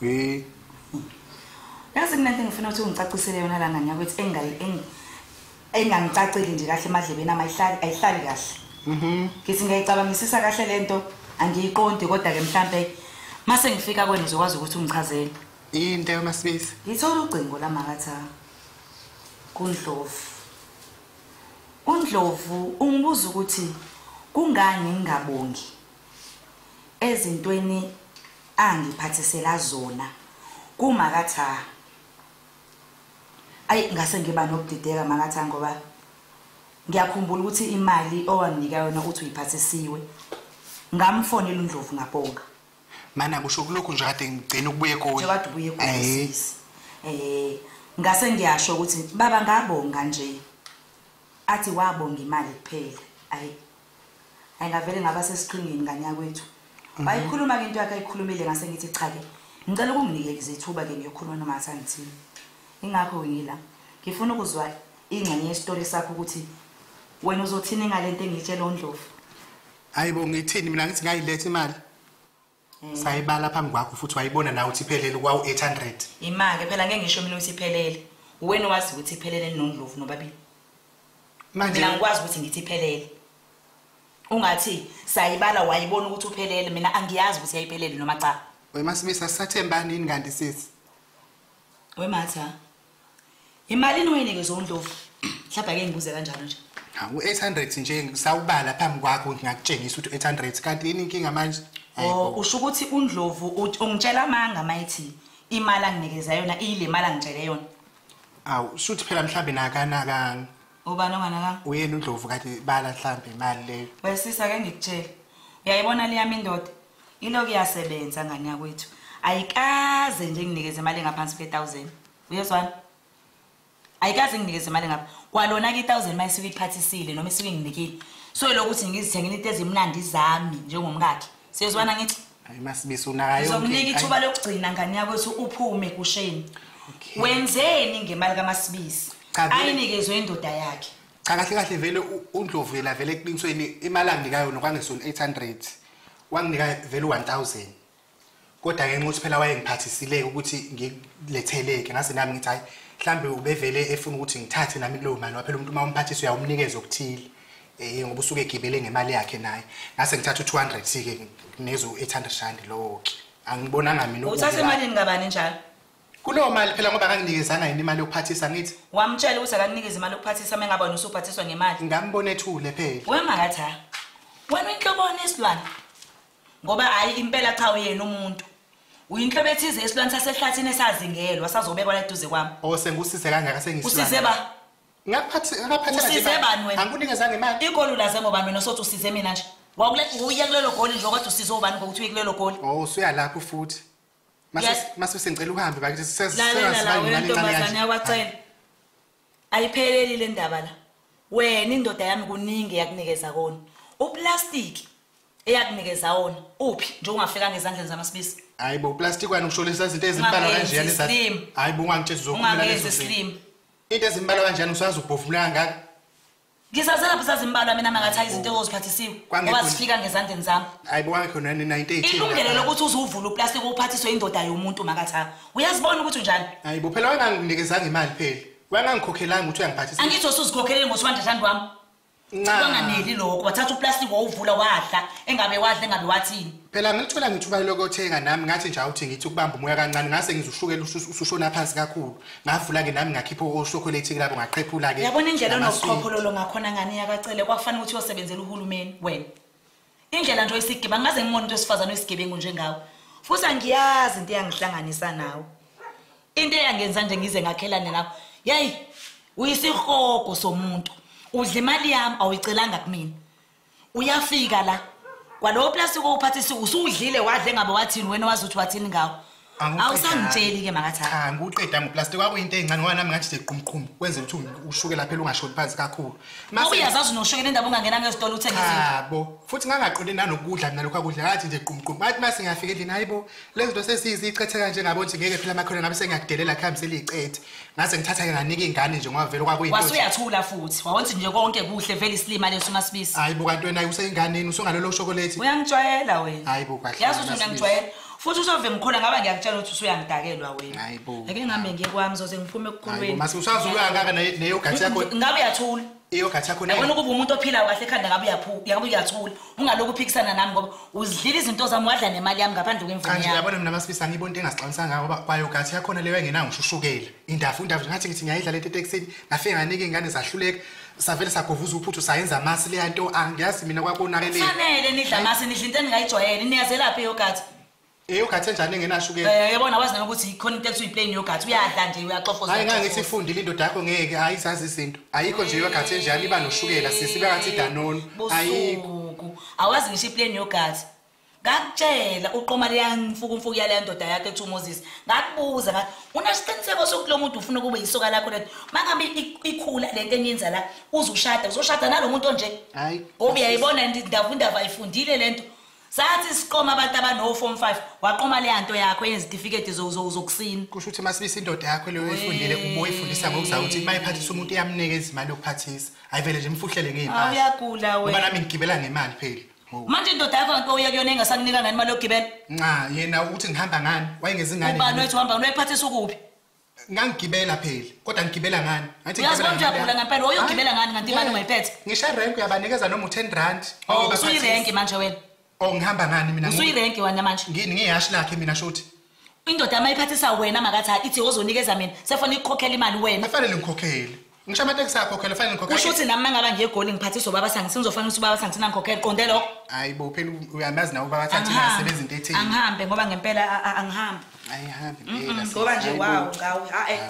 we yazi kunento engifuna ukuthi ungicacisele yona la ngane yakwethu engayi engangicaceli nje kahle emadlebeni ama ayihlali ayihlali kahle mhm ngithi ngiyayicabangisisa kahle lento angiyiqondi kodwa ke mhlambe mase ngifika kwenu uzokwazi ukuthi ungichazele into yona sibisi ngithola ugcingo la makatha kundlovu undlovu ungibuza ukuthi kungani ngingabongi ezintweni angiphathisela zona kumakatha ayi ngase ngiba nokudideka makatha ngoba ngiyakhumbula ukuthi imali owanginika yona ukuthi uyiphathisiwe ngamfonela undlovu ngabonga mana kusho kulokhu nje kade ngigcina ukubuye kuwe kade ubuye kuwe eh ngase ngiyasho ukuthi baba ngabonga nje athi wabonga imali kuphela ayi ayingavele ngaba sesiqingini nganyakwethu mhm. wayikhuluma ke into yakhe ayikhulumile ngase ngithi cha ke ngicela ukunginike izithuba ke ngiyokhuluma nomatha ngithini ingakho ngila ngifuna ukuzwa ingxenye yesitori sakho ukuthi wena uzothini ngalento engiyitshela ondlovu hayibo ngithini mina ngithi ngayiletha imali Mm. sayibala phambi kwakho futhi wayibona nawe ukuthi iphelele kwawu-800 ima-ke phela ngeke ngisho mina ukuthi iphelele uwena wazi ukuthi iphelele ninondlovu nobabili manje mina ngikwazi ukuthi ngithi iphelele ungathi sayibala wayibona ukuthi uphelele mina angiyazi ukuthi yayiphelele noma cha wemasimisa sisathembanini kanti sisi wematha Imalini oyinikezwe uNdlovu? Mhlawumbe ake ngibuze kanjalo nje. Hawu 800 nje ngisawubala phambi kwakho ngingakutshengisa ukuthi 800 kanti yini inkinga manje? Oh usho ukuthi uNdlovu ungitshela amanga mayithi imali anginikeza yona iyile mali angitshele yona. Awu shuthi phela mhlambe nakanakanga. Ubani onganakanga? Uyena uNdlovu kanti bala mhlambe imali leyo. Wesisa ke ngikutshela. Uyayibona leyami indoda. Ilo kuyasebenza ngane yakwethu. Ayikaze nje nginikeze imali engaphansi kwe-1000. Uyezwana? Ayikaze nginikeze imali ngapha. Kwalona ke i-1000 mayisuke iphathisile noma isuke nginikile. So lokuthi ngizithengile into ezimnandi zami njengomkakhe. Siyezwana ngithi? Hayi masibiso nayo. Uzokunika ithuba lokugcina ngane yakwethu uphume kusheni. Okay. Wenzeni ngemali kaMasibisi? Ayinikezwe indoda yakhe. Cha kahle kahle vele uNdlovu yena vele eqinisweni imali angikayo nokwangesona 800. wanginika vele u-1000 kodwa ngenxa ukuthi phela wayengiphathisileke ukuthi ngiletheleke ngase nami ngithi hhayi mhlawumbe ubevele efuna ukuthi ngithathe nami kulowo mali waphela umuntu uma umphathisa uyawumnikeza okuthile um ngoba usuke egibele ngemali yakhe naye ngase ngithatha u-two hundred si-ke nginezo-eight hundred rand lowo-ke angibonanga mina uthathe emalini kabani njalo Kuleyo mali phela ngoba akanginikezanga yini imali yokuphathisa ngithi. Wamtshela ukuthi akakunikeze imali yokuphathisa mengaba wena usuphathiswa ngemali. Ngambona ethule phela. Wemakathi ha. Wena inhloboni isilwane. Ngoba hayi impela cha uyena umuntu. Uyinhlobo ethize esilwane sasehlathini esazingelwa sazobekwa la eduze kwami. Oh sengusize kangaka sengisilwane. Usize ba. Ngaphathi ngaphathi. Usize bani wena? Angikunikezanga imali. Igoli ulaze ngobani wena sothi usize mina nje. Wawuya kulelo goli nje kodwa usize ubani ngokuthi uye kulelo goli. Oh usuya lapho futhi. masuse ngicela uhambe bakithi seselalentombazane yakwacela ayipheleli le ndaba la wena indoda yami kuningi eyakunikeza kona uplastiki eyakunikeza wona uphi nje ungafikanga ezandleni zamasibisi hayi bo plastic wena usho lesa izinto ezimbala kanjeyani za hayi bo ungangitshezi zokuphila lezo slim into ezimbala kanjeyani usazi ubhofumula kangaka Ngisazelaphi sazimbalwa mina mangathi izinto oziphathisiwe ngoba zifika ngezandleni zami. Hayibo wakho nani 98. Ilungelo lokuthi uzuvula uplastic uphathiswe indoda yomuntu makathi ha. Uyazibona ukuthi unjani? Hayibo phela wanganginikezanga imali phela. Wangangikhokhelanga ukuthi uyangiphathisa. Angithi usuzikhokhelele ngoswanda thandi wami. Ncanganeli lokho wathatha uplastic wawuvula wadla engabe wadla engabe wathini. Phela ngilithola ngithuba lokothenga nami ngathi nje awuthi ngithi ukubamba umoya kancane ngase ngizushukela usushona phansi kakhulu. Ngavula ke nami ngakhipha oshokolate lapho ngaqhephula ke. Yabona indlela onokukhokholo ngakhona ngani yakacele kwakufanele ukuthi uyosebenzela uhulumeni wena. Indlela nje oyisigiba ngaze ngimone into esifazana oyisigebengu njengawe. Futhi angiyazi into eyangihlanganisa nawe. Into eyangenza nje ngize ngakhelane nawe. Yayi uyisihogo somuntu. Udla imali yami awuyicelanga kumina. uyafika la kwalowo plastic owuphathisa usudlile wadle ngabe wathini wena wazi ukuthi wathini ngawo awusangitsheli ke makathatha cha ngiwuqeda ngoplastic kwakuyinto encane ngoba nami ngathi sequmqhumu kwenze ukuthi ushukela phela ungashoni phansi kakhulu mase uyazazi unoshukela indaba ungangena ngezitolo uthenge izinto yabo futhi ngangaqonde nanokudla mina lokho akudla ngathi nje qumqhumu bathi mase ngiyafika endlini hayibo lezi zinto sesiyizicethe kanje ngabo nje ngeke phela amakhona ngabe sengiyakudelela khambi seliyicethe ngase ngithatha-ke nganika ingane nje ngoba vele kwakuyinto wasuyathula futhi wawonthi nje konke kuhle vele isilima leso umasibisi hayi bo kanti wena useyinganeni usungalolo ushokoleti uyangijwayela wena hayi bo kahle yazi ukuthi ngiyangijwayela futhi usove ngikhona ngaba ngiyakutshela ukuthi usuyangidakelwa wena hayi bo ake ngihambe ngiye kwami zoze ngiphume ekukhulweni hayi bo mase usazoyangaka neyogathi yakho ngabe uyathula iyogathi yakho yabona ukuba umuntu ophilayo kahle ekhanda ngabe uyabe uyathula ungalokhu uphikisana nami ngoba uzidlile izinto zami wadla nemali yami ngaphandle kwemvume yami yabona mina masifisa ngiyibona into engasixabisa ngayo ngoba kwayogathi yakhona leyo engenayo ngishushukela indafu indafu ngathi ngithi ngiyayidla lento etekisini ngafike nganike ingane zahluleka savele sagovuza uphuthu sayenza amasi leya nto angiyazi mina kwakonakele fanele nidla amasi nidla into eningayijwayele niyazelaphi yogathi Eh ugathi enjani engenashukela? Eh yabona wazi nokuthi ikhona into ekuthiwa iplane yogathi uyadla nje uyaxofoza. Hayi ngangithi ifundile indoda yakho ngeke hayi zazi izinto. Ayikho nje yogathi enjani iba noshukela sisi bekathi danoni. Ayikho. Awazi ngisho iplane yogathi. Ngakutshela uqoma leyamfuku umfuku yale ndoda yakhe ekuthiwa uMoses. Ngakubuza ngathi unesiqiniseko sokuthi lo muntu ufuna kube yisoka lakho lento. Mangabe ikhula lento enyenza la uzushada uzoshada nalomuntu onje. Hayi. Ngoba uyayibona indaba indaba ayifundile lento. sathi siqoma abantu abano form 5 waqoma le nto yakho yezitifiketi zokusina kusho ukuthi masibisa indoda yakho leyo oyifundile ube uyifundisa ngokuzayo ukuthi uma iphathisa umuntu iyamnika izimali yokuphathisa ayivele nje imfuhlele ngey'mpahla uyagula wena ngoba nami ngigibela ngemali phela manje indoda yakho nto uya kuyona engasakunika ngani imali yokugibela nca yena ukuthi ngihamba ngani wayengezingane ubani wethu uhamba ngani wayiphathisa ukuphi ngangigibela phela kodwa ngigibela ngani ngathi ngiyazibona ukuthi uyagula ngempela woyo ugibela ngani kanti imali ungayiphethe ngisho irenki uyabanikeza noma u-ten rand oh, usuyirenki manje wena o oh, ngihamba ngani mina usuyirenki wena manje ngini ngiyihashi lakhe mina shuthi indoda uma iphathisa wena makathi ithi ozonikeza mina sefona ikukhokhela imali wena afanele ngikhokhele Ngisho amateksi ayakhokhela fanele ngikhokhele. Kusho ukuthi nami mangaba ngiyegoli ngiphathiswa ubaba sangi singizofanele ukuthi ubaba sangi sina ngikhokhele qonde lo. Hayi bo phela uyamazi nawe ubaba sangi singasebenza into ethile. Angihambe ngoba ngempela angihambi. Ayihambi phela. Ngoba nje wawo ngawe ha eh.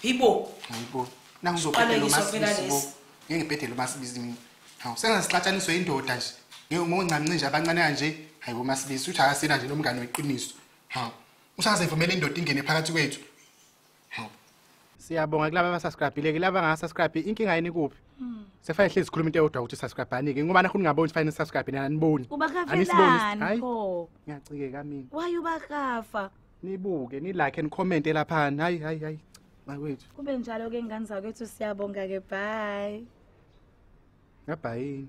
Hibo. Hayibo. Nangizoqala lo masisibo. Ngeke ngibhedele umasibizi mina. Hawu sengasixatshaniswe indoda nje. Ngeke ngoncamnci nje abancane kanje. Hayi bo masibisi uthi akasina nje nomngane weqiniso. Hawu. Usazevumela indoda ingene phakathi kwethu. hawu siyabonga kulaba abasubscribile kulaba angasubscribe inkinga yini kuphi hmm. sefanele hlezi sikhuluma into eyodwa ukuthi subscribe-ani ke ngoba nakho ningaboni ukuthi fanele subscribe nina aniboni ubakafelani pho ngiyacikeka mina waye ubakafa nibuke nilike nikhomente laphana hayi hayi hayi makwethu kube njalo-ke ngane zakwethu siyabonga-ke bye ngabhayini